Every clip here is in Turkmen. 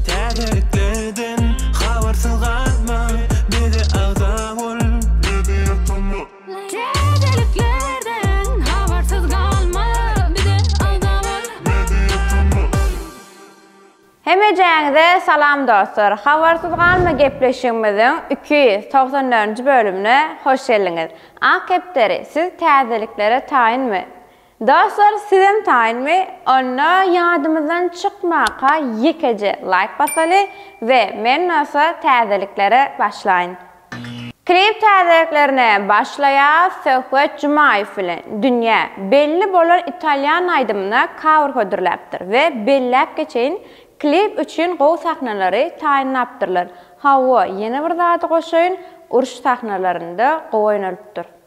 Täzelikleden habarsyz galma, bize agza bol, bizi ýatama. Täzeliklerden habarsyz galma, bize agza bol, bizi ýatama. Hemejäňize salam dostlar! Habarsyz galma gepleşigimiziň iki ýüz togsan dördünji bölümine hoş geldiňiz! Ak kepderi, siz täzeliklere taýynmy? Dostlar sizem taýynmy? Onda ýadymyzdan çykmaka ýekeje laýk basaly we men bolsa täzeliklere başlaýyn. Klip täzeliklerine başlaýas Söhbet Jumaýew bilen dünýä belli bolan italýan aýdymyna cover hödürläpdir we belläp geçeýin klip üçin gowy sahnalary taýynlapdyrlar, hawa ýene bir zady goşaýyn uruş sahnalarynda gowy oýnalypdyr.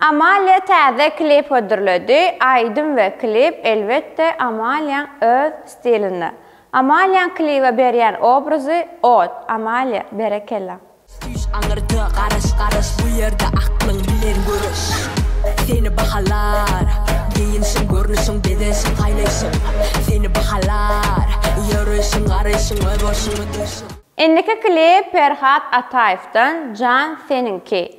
Amalia täze klip hödürledi, aýdym we klip elbetde Amaliaň öz stilinde. Amaliaň klibe berýän obrazy ot, Amalia, berekella. Süýş aňyrda garaş garaş bu ýerde aklyň bilen göreş Seni bahalar Geýinşiň görnüşiň bezenşiň saýlaýşyň Seni bahalar Ýöreýşiň garaýşyň öz bolşuň ödeýşiň. Indiki klip Perhat Ataýewden Jan seniňki.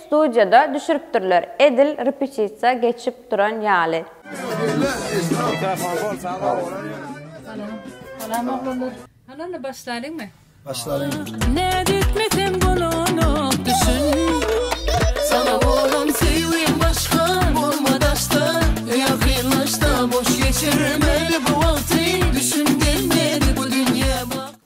Studiýada düşüripdirler edil repetisiýa geçip duran ýaly.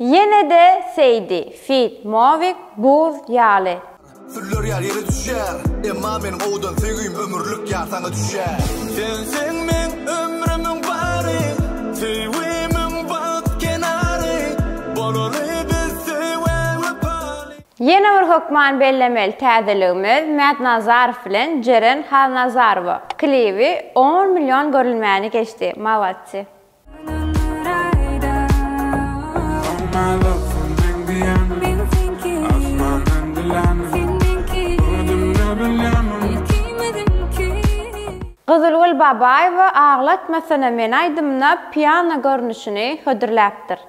Ýene-de Seýdi feat. Movik, Buz ýaly. Sürler ýar ýere düşýär. Emma meniň owdan söýgim ömürlik ýar saňa düşýär. Sensiň meň ömrümiň bary. Söýgimiň bagt kenary. Bolaly biz söýgä wepaly. Ýene bir hökman bellemeli täzeligimiz Mäd Nazarow bilen Jeren Halnazarowa klibi on million görülmäni geçdi. Malatçy. Gyzylgül Babaýewa Aglatmasana meni aýdymyna piano görnüşini hödürläpdir.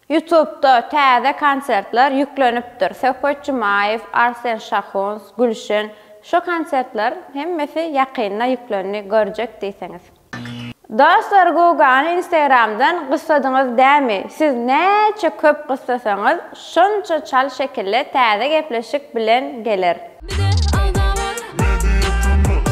Ýutubda täze konsertler ýüklenipdir, Söhbet Jumaýew, Arsen Şahuns, Gülşen, şu konsertler hemmesi ýakynda ýüklendi, görjek diýseňiz. Dostlar Gugany instagramdan gyssadyňyz dämi siz näçe köp gyssasaňyz şonça çal şekilli täze gepleşik bilen geler. Bize agzalar. Media Turnus.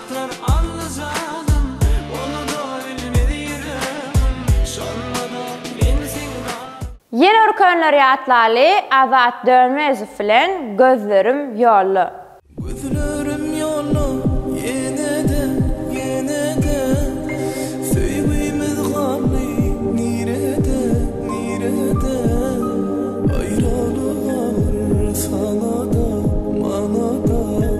Saklar Alla janym, oluda ölmez ýüregim, şonda-da men seň bar. Ýene bir könler ýatlaly Azat Dönmezow bilen Gözlerim ýolda. Gözlerim ýolda ýene-de, ýene-de, Söýgimiz galdy nirede, nirede, Aýralyk agyr sana-da, mana-da.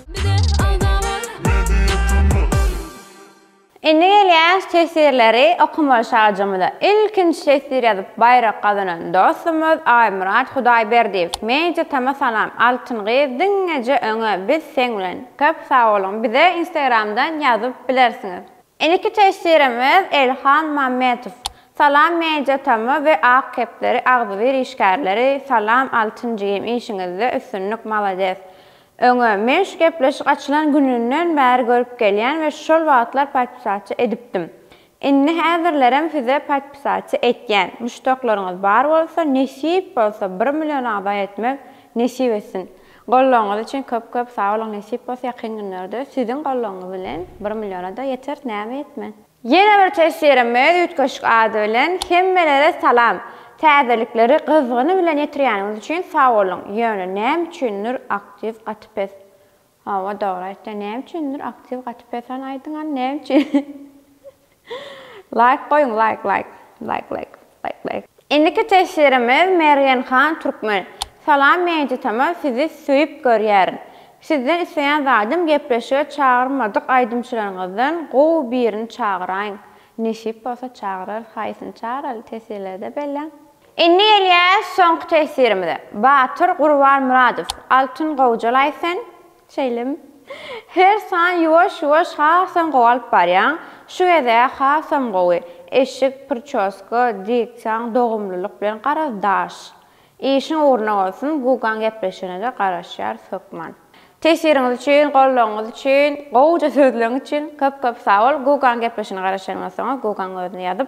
Indi gelýän tesirleri okamaly şajamyza. Ilkinji tesir ýazyp baýrak gazanan dostumyz Aýmyrat Hudaýberdiýew. Media tama salam Altyn gyz diňeje öňe biz seň bilen. Köp sagboluň bize instagramdan ýazyp bilersiňiz. Indiki tesirimiz Elhan Mammetow. Salam Media tama we Ak kepderi agzybir işgärleri salam Altyn jigim işiňizde üstünlik malades. Öňe, men şu gepleşik açylan gününden bäri görüp gelýän we şol wagtlar podpisaçy edipdim. Indi häzirlerem size podpisaçy etýän. Muşdaklaryňyz bar bolsa, nesip bolsa bir million agza etmek nesip etsin. Gollagyňyz üçin köp köp sag boluň nesip bolsa ýakyn günlerde siziň gollagyňyz bilen bir milliona-da ýeteris näme ýetmez. Ýene bir teswirimiz Üýtgeşik ady bilen Hemmelere salam! Täzelikleri gyzgyny bilen ýetirýäniňiz üçin sag boluň! Ýöne näme üçindir aktiw gaty pes. Hawa dogry aýtýaň näme üçindir aktiw gaty pes hany aýdyň hany näme üçin? Laýk goýuň laýk laýk. Laýk laýk. Indiki teswirimiz Mergen han Türkmen. Salam Mejit hama sizi söýüp görýärin. Sizden isleýän zadym gepleşige çagyrmadyk aýdymçylaryňyzdan gowy birini çagyraýyň. Nesip bolsa çagyrarys haýsyny çagyraly teswirlerde belläň. Indi gelýäs soňky teswirimize. Batyr Gurbanmyradow Altyn Gowjalaý sen Şeýlemi? Her san ýuwaş-ýuwaş hasam gowalyp barýaň. Şu gezä hasam gowy. Eşik, pričoska, diksiýaň dogumlylyk bilen garaz daş. Işiň ugruna bolsun, Gugaň gepleşigine-de garaşýarys hökman. Tesiriňiz üçin, goldawyňyz üçin, gowuja sözleriňiz üçin köp-köp sag bol. Gugaň gepleşigine garaşanymdan soň-a Gugaň özüne ýazyp,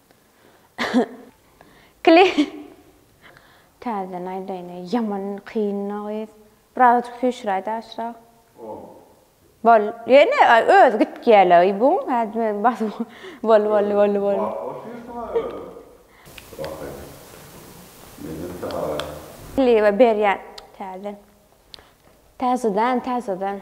Klip Täzeden aýdaýyn eý ýaman kynna gyz. Birazajyk süýşüräýdä aşrak. Bol ýene özi gitgýäle y bu ädmez basyp bol bol bol bol. Klibe berýän täzeden. Täzeden täzeden.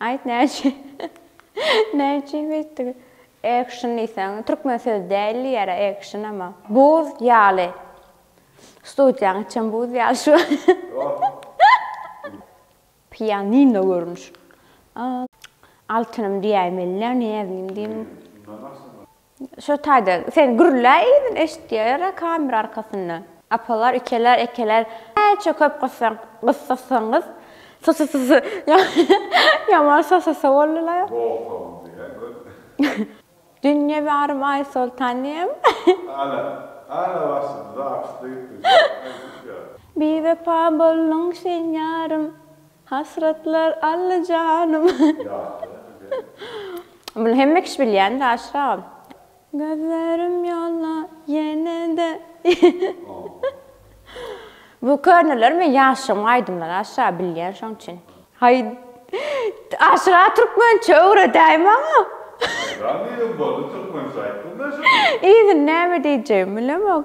Aýt näçe näme üçin beýtdi. Action diýseň türkmen söz däl diýýärä action ama. Buz ýaly. Studiýaň içem buz ýaly şu. Pianino görnüşi. Altynym diýäýmelidä näznim diýdim. Şo taýda sen gürlä yzyn eşitýäler-ä kamera arkasynda. Apalar ikeler ekeler näçe köp gyssaň gyssasaňyz sosisisi ýaman sosisi boldular. Bogsaňyz diýýä göt. Dünýe barym Aýsoltan diýem. Ana, ana başymyzy açdy. Biwepa bolduň sen ýarym. Hasratlar Alla janym. Muny hemme kişi bilýändir aşyragam. Gözlerim ýolda ýene-de. Bu köneler men ýaşygyň aýdymlary aşyraga bilýän şoň üçin. Haý aşyraga türkmençe öwredäý maňa. Agam diýdim boldy türkmençe aýtdym men şony. Yzyny näme diýjegimi bilemok.